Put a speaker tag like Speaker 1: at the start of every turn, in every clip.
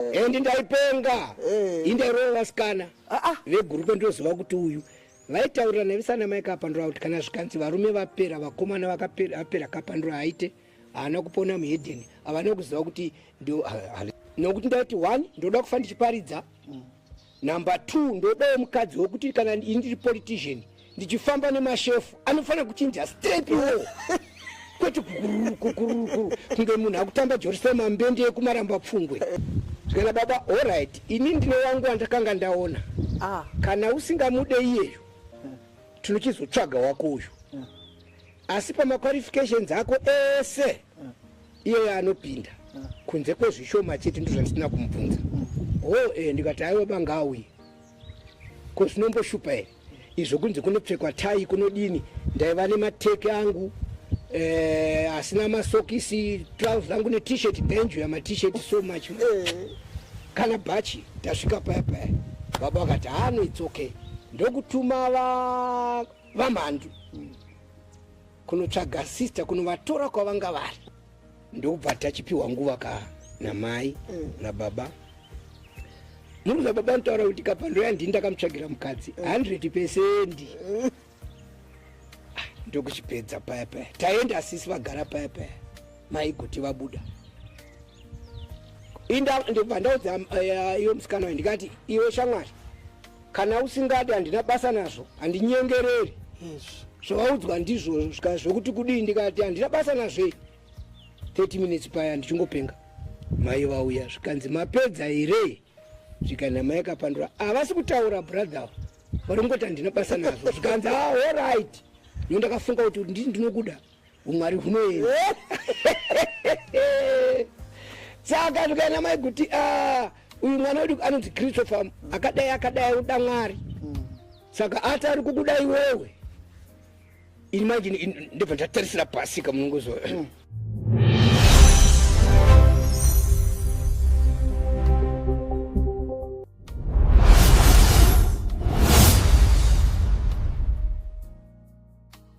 Speaker 1: and ndaipenga eh. indairova vasikana ah, ah. vegurupe ndoziva kuti uyu vaitaurira nevisana mai kapandura kuti kana zvikanzi varume vapera vakomana vakapera kapandura aite haana kupona muhedeni havana kuziva kuti nokuti ndaiti one ndoda kufa ndichiparidza mm. Number two, ndodawo mukadzi wekuti kana ini ndiri politician ndichifamba nemashefu anofanira kuchinja straight wo kwete kukurukukuru kunge munhu akutamba jorisema mbende yekumaramba pfungwe zvikana baba allright ini ndine wangu wandakanga ndaona ah. kana usingamude iyeyo tinochizotsvaga wako uyu asi pamaqualifications ako ese iyeye anopinda kunze kwezvishoma chete ndozvandisina kumubvunza ho e ndikati aiwa bangauye ko zvinomboshupa here izvo kunzi kunopfekwa tai kunodini ndaiva nemateke angu eh, asina masokisi trouse angu netishet ndenjuya matishet so much eh. kana bhachi tasvika paya paya baba vakati hano ah, its okay ndokutuma vamhandu kunotsvaga sister kunovatora kwavanga vari ndokubva tachipiwa nguva ka namai mm. nababa muri kuza baba anotaura kuti kapando yandini ndakamutsvagira mukadzi 100 mm. pesendi mm. ah, ndokuchipedza paya paya taenda asisi vagara paya paya maigoti vabuda inda ndokubva ndaudza eh, iyo musikana wayo ndikati iwe shamwari kana usingadi handina basa nazvo handinyengereri zvawaudzwa ndizvo zvika zvokuti kudii ndikati handina basa nazvei 30 minutes paya ndichingopenga mai vauya zvikanzi mapedza here zvikanzi amai akapandura havasi ah, kutaura brother vari kungoti handina basa nazvo zvikanzi ahorit ah, no ndakafunga kuti ndii ndinokuda umwari hunoenda saka ndikaenda mai kuti ah, uyu mwana wedu anonzi christopher akadai akadai uda mwari saka ati ari kukuda iwewe ini manje ndibva ndatarisira pasi kamunongozo mm.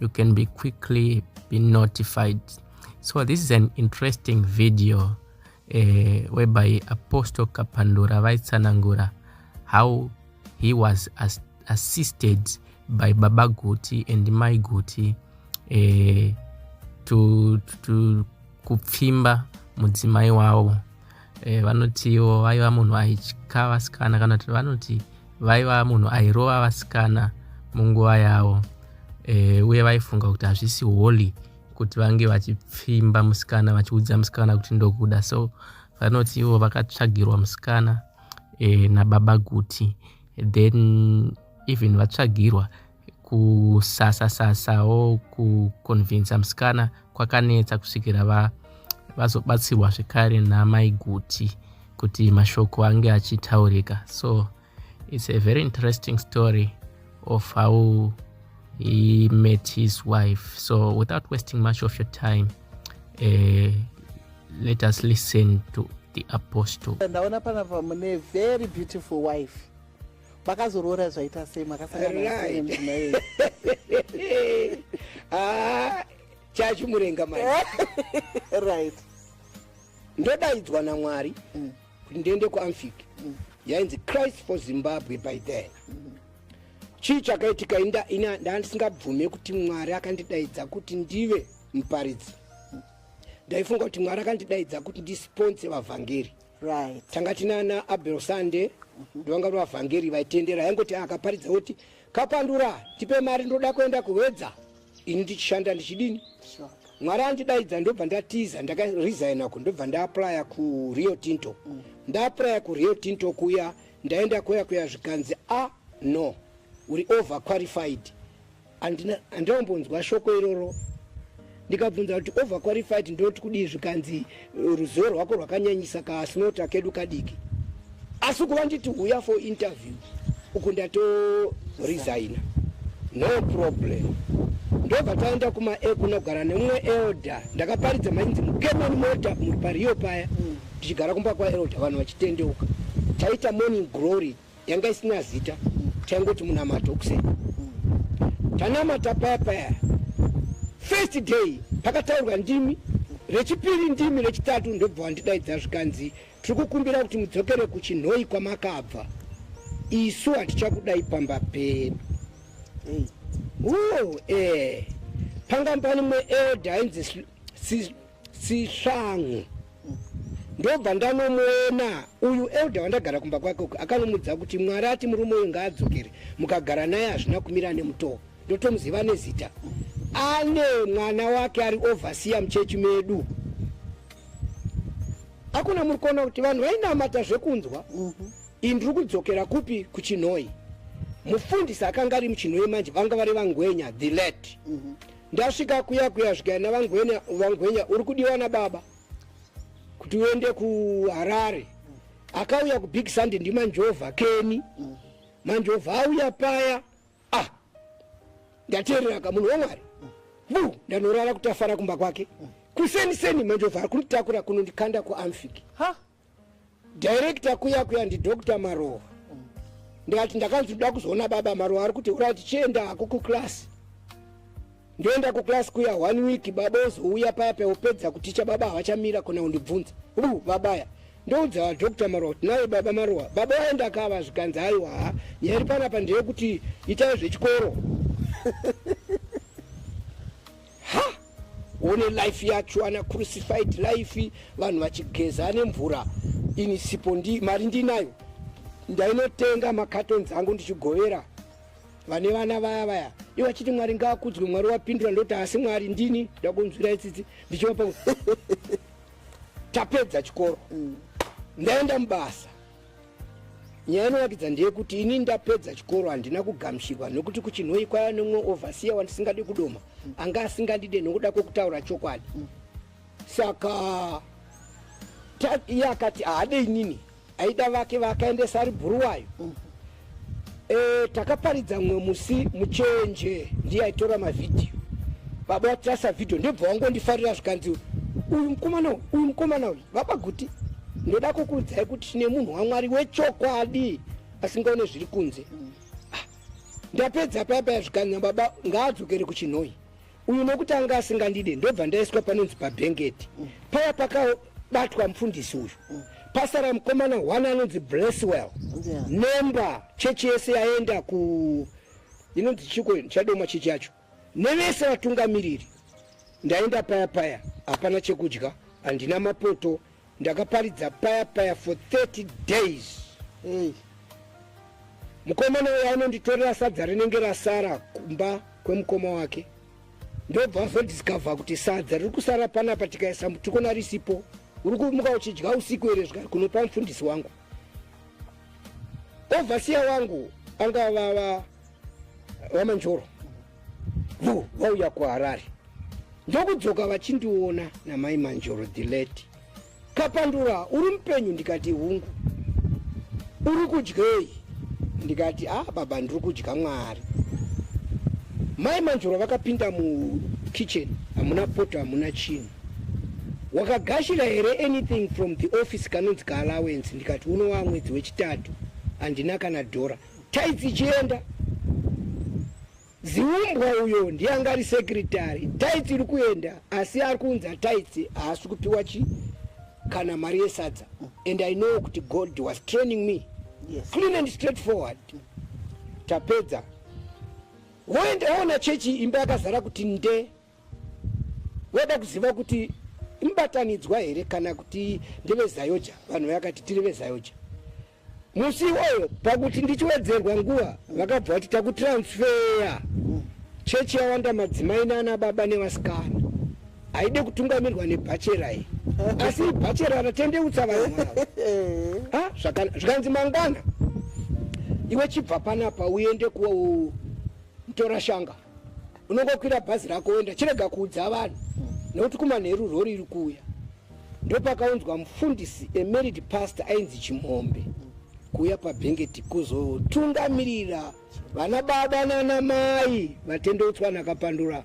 Speaker 2: you can be quickly be notified so this is an interesting video uh, whereby apostle kapandura vaitsanangura how he was as assisted by baba guti and mai guti uh, to, to kupfimba mudzimai wavo E, vanotiwo vaiva munhu aitya vasikana kana kuti vanoti vaiva munhu airova vasikana munguva yavo e, uye vaifunga kuti hazvisi holy kuti vange vachipfimba musikana vachiudza musikana kuti ndokuda so vanoti ivo vakatsvagirwa musikana e, nababa guti then even vatsvagirwa kusasasasawo kuconvinsa musikana kwakanetsa kusvikira va vazobatsirwa zvekare namai guti kuti mashoko ange achitaurika so it's a very interesting story of how he met his wife so without wasting much of your time uh, let us listen to the apostle ndaona panapa
Speaker 3: mune very beautiful wife makazoroora zvaita sei makasangana sei mudzimai ah,
Speaker 1: chachimurenga mai
Speaker 3: right
Speaker 1: ndodaidzwa namwari mm. kuti ndiende kuamfic mm. yainzi christ for zimbabwe by then mm. chii chakaitika ndandisingabvume kuti mwari akandidaidza kuti ndive muparidzi ndaifunga kuti mwari akandidaidza kuti ndisponse vavhangeri right. tanga
Speaker 3: tinana
Speaker 1: abel sande ndovanga mm -hmm. vavhangeri vaitendera yaingoti ah, akaparidza kuti kapandura tipe mari ndoda kuenda kuwedza ini ndichishanda ndichidini sure. mwari
Speaker 3: andidaidza
Speaker 1: ndobva ndatiza ndakaresigna ku ndobva ndaaplya kurio tinto mm. ndaaplya kurio tinto kuya ndaenda kuya kuya zvikanzi a ah, no uri over qualified Andina andambonzwa shoko iroro ndikabvunza kuti over qualified ndoti kudii zvikanzi ruzivo rwako rwakanyanyisa kasinota kedu kadiki asi kuva nditi uya for interview uku ndato resigna no problem ndobva taenda kuma e kunogara nemumwe elder ndakaparidza mainzi mukemani mota muri pariyo paya tichigara kumba kwaelder vanhu vachitendeuka taita morning glory yanga isina zita taingoti munamato kuseni tanamata paya paya first day pakataurwa ndimi rechipiri ndimi rechitatu ndobva wandidaidza zvikanzi tiri kukumbira kuti mudzokere kuchinhoi kwamakabva isu hatichakudai pamba pedu mm. uo e eh. pangambani mweelda ainzi sisvangu ndobva ndanomuona uyu elder wandagara kumba kwake uku akanomudza kuti mwari ati murume uyu ngaadzokere mukagara naye hazvina kumira nemutoo ndotomuziva nezita ane mwana wake ari overseer muchechi medu akuna muri kuona kuti vanhu vainamata zvekunzwa mm -hmm. iyi ndiri kudzokera kupi kuchinhoi mufundisi akanga ari muchinhoi manje vanga vari vangwenya the late mm -hmm. Ndasvika kuya kuya svika navangwenya vangwenya uri kudiwa nababa kuti uende kuharare akauya kubig sunday ndimanjovha keni manjovha auya paya ah ndateerera ka munhu wamwari bu ndanorara kutafara kumba kwake kuseni seni manjovha ari kunditakura kunondikanda kuamfiki director kuya kuya ndidoctor marowa ndikati ndakanzi ndoda kuzoona baba marowa ari kuti urati chienda hako kuclass ndoenda kuclass kuya one week baba ozouya paya peopedza kuticha baba havachamira kona undibvunza u babaya ndoudza vadoctor marowa kuti naye baba marowa baba vaenda akava zvikanzi aiwa ha nyaya iri panapa ndeyekuti itai zvechikoro ha one life yacho ana crucified life vanhu vachigeza nemvura ini sipo ndi mari ndinayo ndainotenga makatonzi angu ndichigovera vane vana vaya vaya ivo achiti mwari ngaakudzwe mwari wapindura ndoti asi mwari ndini ndakunzwira itsitsi ndichivapa tapedza chikoro mm. ndaenda mubasa Nyaya inoratidza ndeyekuti ini ndapedza chikoro handina kugamushirwa nokuti kuchinhoyi kwaiva nemumwe ovhasiya wandisingadi kudoma anga asingandide nokuda kwekutaura chokwadi saka iye akati haade inini aida vake vaakaendesa ari bhuruwayo Eh, takaparidza mumwe musi muchenje ndiye aitora mavhidhiyo baba vatirasa vhidhiyo ndobva wangondifarira zvikanzi uyu mukomana uyu uyu mukomana uyu baba guti ndoda kukuudzai kuti tine munhu wamwari wechokwadi asingaone zviri kunze ah, ndapedza paya paya zvikanzi baba ngaadzokere kuchinhoi uyu nokuti anga asingandide ndobva ndaiswa panonzi pabhengeti paya pakabatwa mufundisi uyu pasara mukomana one anonzi blesswell nemba chechi yese yaenda ku inonzi chiko chadoma chechi yacho nevese vatungamiriri ndaenda paya paya hapana chekudya handina mapoto ndakaparidza paya paya for 30 days hey. mukomana uyo anonditorera sadza rinenge rasara kumba kwemukoma wake ndobva azodiscover kuti sadza riri kusara panapa tikaisa mutukona risipo uri kumuka uchidya usiku here zvikari kunopa mufundisi wangu ovhasiya wangu anga vava wa, vamanjoro vo vauya kuharare ndokudzoka vachindiona namai manjoro dileti kapandura uri mupenyu ndikati hungu uri kudyei ndikati a ah, baba ndiri kudya mwari mai manjoro vakapinda mukitchen hamuna poto hamuna chinhu wakagashira here anything from the office kanonzi kaalawence ndikati unowa mwedzi wechitatu handina kana dhora Taitsi chienda ziumbwa uyo ndiye anga ari sekretary taitsi iri kuenda asi ari kuunza taitsi haasi kupiwa chi kana mari yesadza and i know kuti god was training me yes. clean and straight forward tapedza woenda woona chechi imba yakazara kuti nde Wada kuziva kuti imbatanidzwa here kana kuti ndevezayoja vanhu vakati tiri vezayoja musi iwoyo pakuti ndichiwedzerwa nguva vakabva vati takutransfeya chechi yawanda madzimai nana baba nevasikana haide kutungamirwa nebhachera iyi asi ibhachera ratendeutsa vanhu vavo zvikanzi mangwana iwe chibva panapa uende kutora shanga unongokwira bhazi rako woenda chirega kuudza vanhu nekuti kumanheru rori iri kuuya ndopakaunzwa mufundisi emerid past ainzi chimhombe kuuya pabhengeti kuzotungamirira vana baba nana mai vatendeutswa nakapandura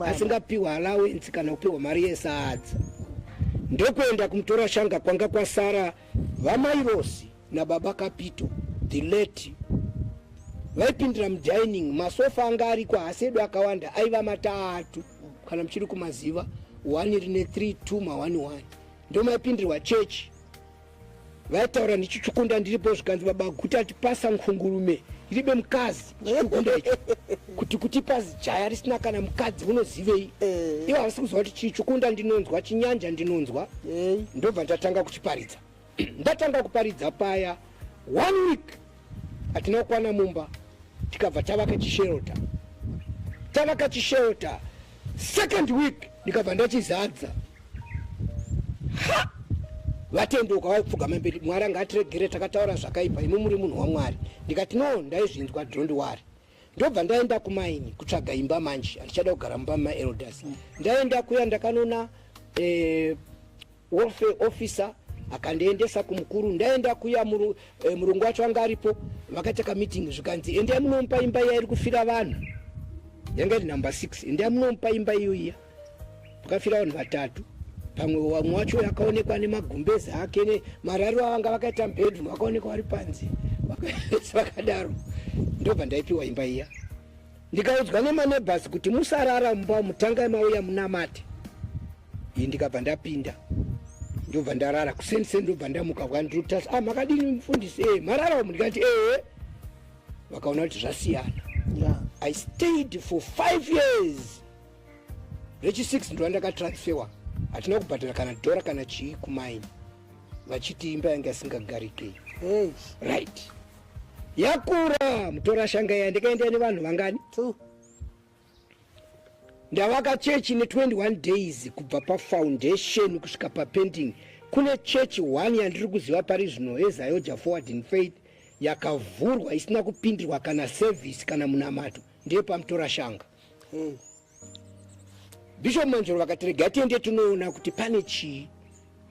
Speaker 1: asingapiwa alawensi kana kupiwa mari yesadza ndokuenda kumutora shanga kwanga kwasara vamairosi nababa kapito the late vaipindira mudining masofa anga ariko haasi edu akawanda aiva matatu kana muchiri kumaziva one rine three two maone one ndo maipindirwa chechi vaitaura ndichichukunda ndiripo zvikanzi baba guta tipasa nkhungurume iribe mukadzi chichukunda icho kuti kutipa zijaya risina kana mukadzi unozivei eh. ivo havasi kuziva kuti chichukunda ndinonzwa chinyanja ndinonzwa eh. ndobva ndatanga kuchiparidza Ndatanga kuparidza paya one week hatina kukwana mumba tikabva tavaka chishelter tavaka chishelter second week ndikabva ndachizadza vatendoka vaipfugama mberi mwari anga atiregere takataura zvakaipa imi muri munhu wamwari ndikati no ndaizvinzwa dhondi wari ndobva ndaenda kumaini kutsvaga imba manje handichada kugara mumba mumaelders mm. ndaenda kuya ndakanoona eh, welfare officer akandiendesa kumukuru ndaenda kuya muru, eh, murungu wacho anga aripo vakataka meeting zvikanzi endai munomupa imba iya iri kufira vanhu yanga iri number six endai munomupa imba iyoiya pakafira vanhu vatatu pamwe wamwe wacho akaonekwa nemagumbezi ake nemarariro avanga vakaita mubedroom vakaonekwa vari panze vakaese vakadaro ndobva ndaipiwa imba iya ndikaudzwa nemanebhasi kuti musarara mumba mutangai mauya munamate iyi ndikabva ndapinda ndobva ndarara kuseni seni ndobva ndamuka vwandirutas a ah, makadini mufundisi e marara umu ndikati ee vakaona kuti zvasiyana i stayed for five years rechi 6 ndo andakatransferwa hatina kubhadhara kana dhora kana chii kumaini vachiti imba yange asingagarike hey. right yakura mutora shanga iya ndikaenda nevanhu vangani two ndavaka chechi ne21 days kubva pafoundation kusvika papending kune chechi one yandiri kuziva pari zvino ezayoja forward in faith yakavhurwa isina kupindirwa kana service kana munamato ndeye pamutora shanga hey. bishop manjoro vakati regai tiende tinoona kuti pane chii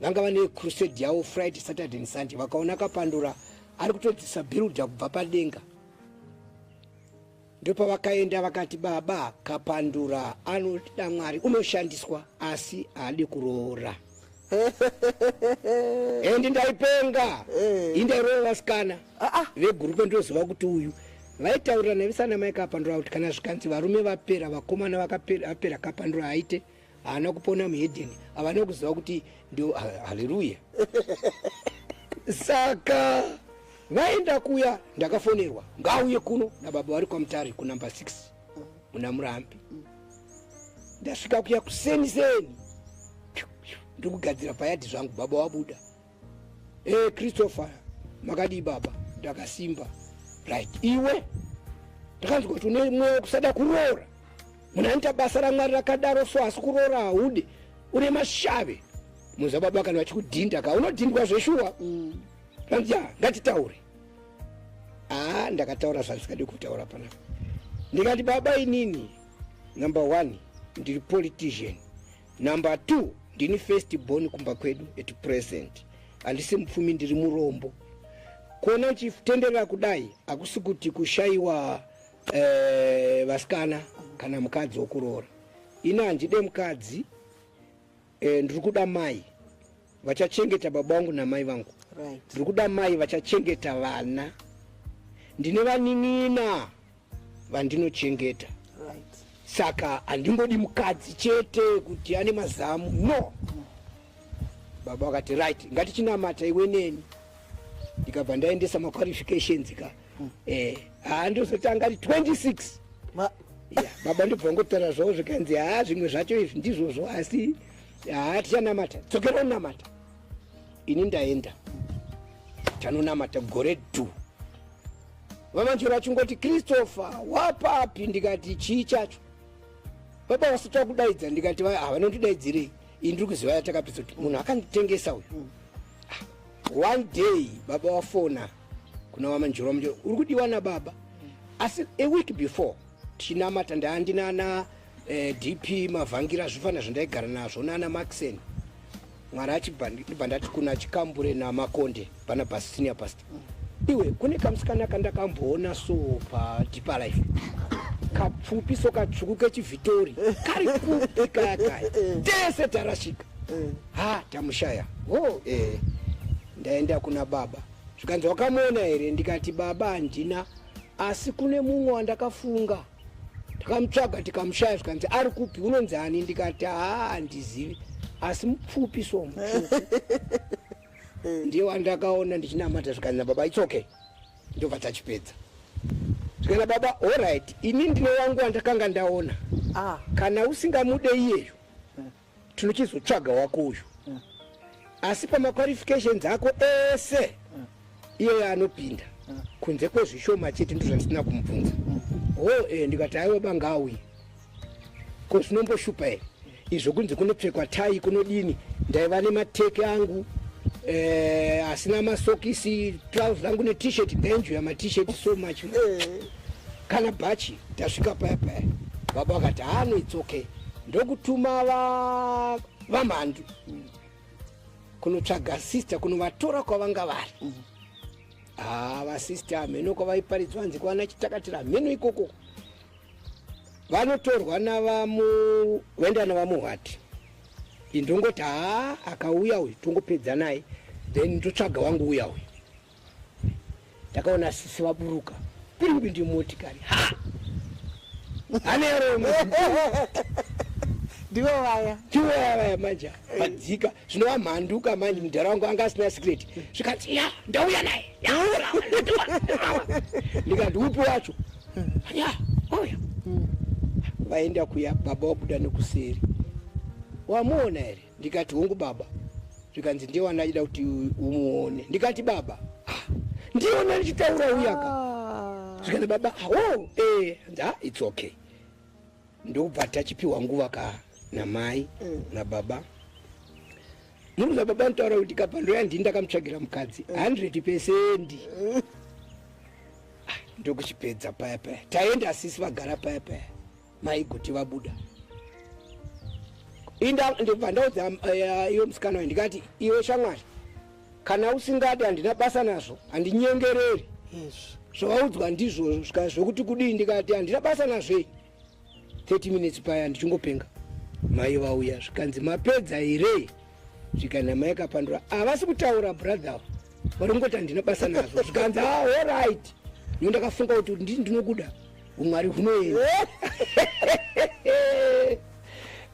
Speaker 1: vanga vane crusade yavo friday saturday and sunday vakaona kapandura ari kutodzisa bhiruda kubva padenga ndopavakaenda vakati baba kapandura anoda mwari unoshandiswa asi haadi kuroora and ndaipenga eh. indairova vasikana ah, ah. vegurupe ndoziva kuti uyu vaitaurira navisana mai kapandura kuti kana zvikanzi varume vapera vakomana vapera kapandura haite haana kupona muhedeni havana kuziva kuti ndo haleluya saka vaenda kuya ndakafonerwa ngauye kuno nababa vari kwamutare kunumber 6 muna murambi ndasvika kuya kuseni seni ndiri kugadzira payadhi zvangu baba wabuda e eh, christopher makadii baba ndakasimba right iwe ndakanzwa kuti une mweya wekusada kuroora munhu anoita basa ramwari rakadaro so asi kuroora haude une mashave muza baba kana vachikudhinda ka unodhindwa zveshuwa mm. anzi ya ngatitaure aa ndakataura zvandisingadi kutaura panapa ndikati baba inini number one ndiri politician number two ndini first born kumba kwedu at present handisi mupfumi ndiri murombo kuona uchitenderera kudai hakusi kuti kushayiwa eh, vasikana kana mukadzi wokuroora ini handide mukadzi Eh, ndiri kuda mai vachachengeta baba vangu namai vangu right. ndiri kuda mai vachachengeta vana ndine vanin'ina vandinochengeta right. saka handingodi mukadzi chete kuti ane mazamu no mm. baba vakati right ngatichinamata iwe neni ndikabva ndaendesa maqualifications ka eh haa ndozotanga ri 26 Ma... yeah, baba ndobva ngotaura zvavo zvikanzi haa zvimwe zvacho izvi ndizvozvo asi haa tichanamata dzokera unamata ini ndaenda tanonamata gore du vamanjoro achingoti christopher wapapi ndikati chii chacho baba vasati vakudaidza ndikati havanondidaidzirei ini ndiri kuziva yatakapedza kuti munhu akanditengesa uyu mm. ah, one day baba wafona kuna mama njoro mnjoro uri kudiwa nababa asi a week before tichinamata ndaandinana eh, dp mavhangira zvifana zvandaigara nazvo nana maxen mwari achibva ndati kuna chikambure namakonde pana basitinia past iwe kune kamusikana kandakamboona so padeeper life kapfupi so katsvuku kechivhitori kari kupi kaya kaya tese tarashika ha tamushaya ho oh, eh. Ndaenda kuna baba zvikanzi wakamuona here ndikati baba handina asi kune mumwe wandakafunga takamutsvaga tikamushaya zvikanzi ari kupi unonzi ani ndikati haa handizivi asi mupfupi so mupfupi ndiye wandakaona ndichinamata zvikanzi nababa its okay ndobva tachipedza zvikana baba orit ini ndine wangu wandakanga ndaona ah. kana usingamude iyeyo tinochizotsvaga wako uyu mm. asi pamaqualifications ako ese mm. iye yaanopinda mm. kunze kwezvishoma chete ndo zvandisina kumubvunza mm. ho oh, eh, ndikati aiwa banga auye ko zvinomboshupa here izvo kunze kunopfekwa tai kunodini ndaiva nemateke angu eh, asina masokisi trouse rangu netishet benjo yamatisheti so much eh. kana bhachi tasvika paya paya baba vakati hano its okay ndokutuma vamhandu mm. kunotsvaga sister kunovatora kwavanga vari mm. ah, vasister hamheno kwavaiparidzwa hanzi kwana chitakatira hamheno ikoko vanotorwa navamuenda navamuhwati indongoti haa akauya uyu tongopedza naye then ndotsvaga wangu uya uyu ndakaona sisi vaburuka kuri kuti ndimotikari ha aneromo
Speaker 3: ndivo vaya ndivo vaya vaya
Speaker 1: manje vadzika zvinova mhanduka manje mudhara wangu anga asina secret zvikanzi ya ndauya naye ndikati upi wacho ya auya vaenda kuya baba wabuda nekuseri wamuona here ndikati hongu baba zvikanzi ndiye wanda achida kuti umuone ndikati baba ah, ndiye wanda ndichitaura uyaka ah. zvikanzi baba ah, oh, eh, nda its okay ndokubva tachipiwa nguva ka namai mm. nababa munhu nababa nitaura kuti kapando yandi ndakamutsvagira mukadzi 100 mm. pesendi mm. ndokuchipedza paya paya taenda asisi vagara paya paya maigoti vabuda inda ndobva ndaudza eh, iwe musikana wayo ndikati iwe shamwari kana usingadi handina basa nazvo handinyengereri zvawaudzwa ndizvo zvika zvokuti kudii ndikati handina basa nazvei 30 minutes paya ndichingopenga mai vauya zvikanzi mapedza here svika nhama yakapandura havasi ah, kutaura brother vari kungoti handina basa nazvo zvikanzi ah, allright no ndakafunga kuti ndii ndinokuda umwari hunoenda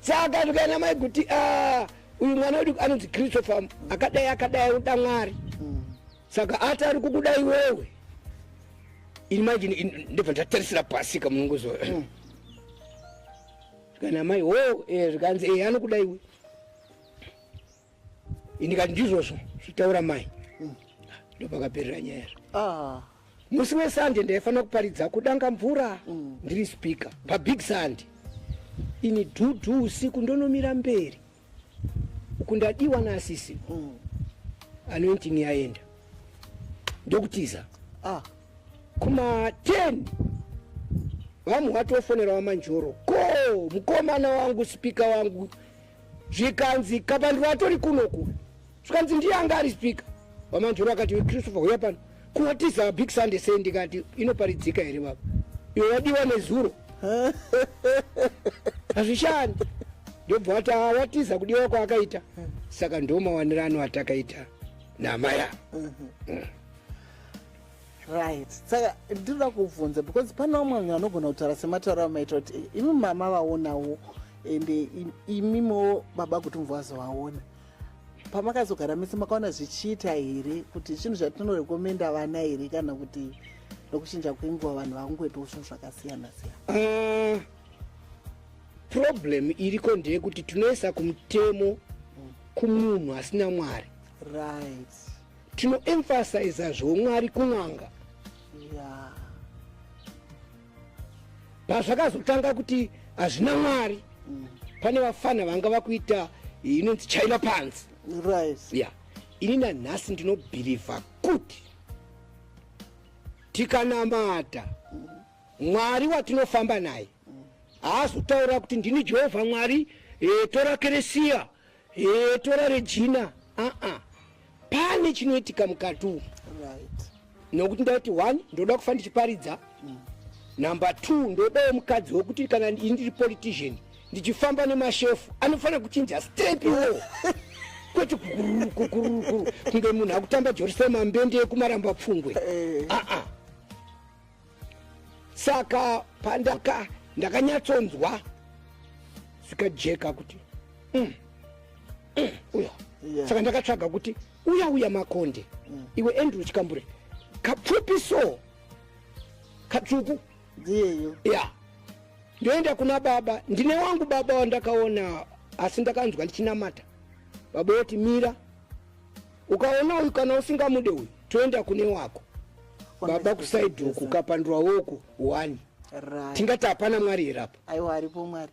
Speaker 1: saka zvikaina mai kuti ah, uyu mwana wedu anonzi christopher akadai akadai uda mwari mm. saka ati ari kukuda iwewe ini manje ndibva ndatarisira pasika munongozo mm. zvikanzi amai ho eh, zvikanzi e anokuda iwe indikati ndizvozvo zvitaura mai mm. ndopakaperera nyaya yazvo ah. musi wesande ndaifanira kuparidza kudanga mvura mm. ndiri speaker pabig sande ini dhudhu usiku ndonomira mberi kundadiwa naasisi mm. anointing yaenda ndokutiza ah. kuma 10 vamwe watofonera wamanjoro ko mukomana wangu sipika wangu zvikanzi kabandiro atori kunoku zvikanzi ndiye anga ari spika wamanjoro akati iwe christopher huya pano kuwatiza big sunday sei ndikati inoparidzika here baba iwe wadiwa nezuro hazvishandi ndobva wati awatiza kudiwa kwaakaita saka ndomawanirano atakaita namaya mhm. mm.
Speaker 3: right saka ndinoda kubvunza because pane vamwe vanhu vanogona kutaura sematauro amaita kuti imi mama vaonawo ende imimiwo baba kuti mubva vazovaona pamakazogara mese makaona zvichiita here kuti zvinhu zvatinorekomenda vana here kana kuti nokuchinja kwenguva vanhu vakungoitawo zvinhu zvakasiyana siyana eh, problem
Speaker 1: iriko ndeyekuti tinoisa kumutemo kumunhu asina mwari right
Speaker 3: tinoemphasiza
Speaker 1: zvomwari kun'anga yeah. pazvakazotanga kuti hazvina mwari mm. pane vafana vanga vakuita inonzi china panzi right. yeah.
Speaker 3: ini
Speaker 1: nanhasi ndinobhirivha kuti tikanamata mwari watinofamba naye haazotaura kuti ndini jehovha mwari e, tora keresiya Hee tora Regina aa pane chinoitika mukati umu nokuti ndaiti one ndoda kufa ndichiparidza mm. number two ndodawo mukadzi wekuti kana ini ndiri politician ndichifamba nemashefu anofanira kuchinja step iwo kwete kukurukukuru kunge munhu akutamba jorisema mbende yekumaramba pfungwe eh. aa ah, ah. saka pandaka ndakanyatsonzwa zvikajeka kuti mm, mm, uya yeah. saka ndakatsvaga kuti uya uya makonde mm. iwe andrew chikambure kapfupi so katsvuku ndiyeyo
Speaker 3: ya
Speaker 1: ndoenda kuna baba ndine wangu baba wandakaona asi ndakanzwa ndichinamata baba woti mira ukaona uyu kana usingamude uyu toenda kune wako baba kusaidi uku ukapandurwa woku one
Speaker 3: right. tingati hapana
Speaker 1: mwari here apa
Speaker 3: aiwa
Speaker 1: aripo mwari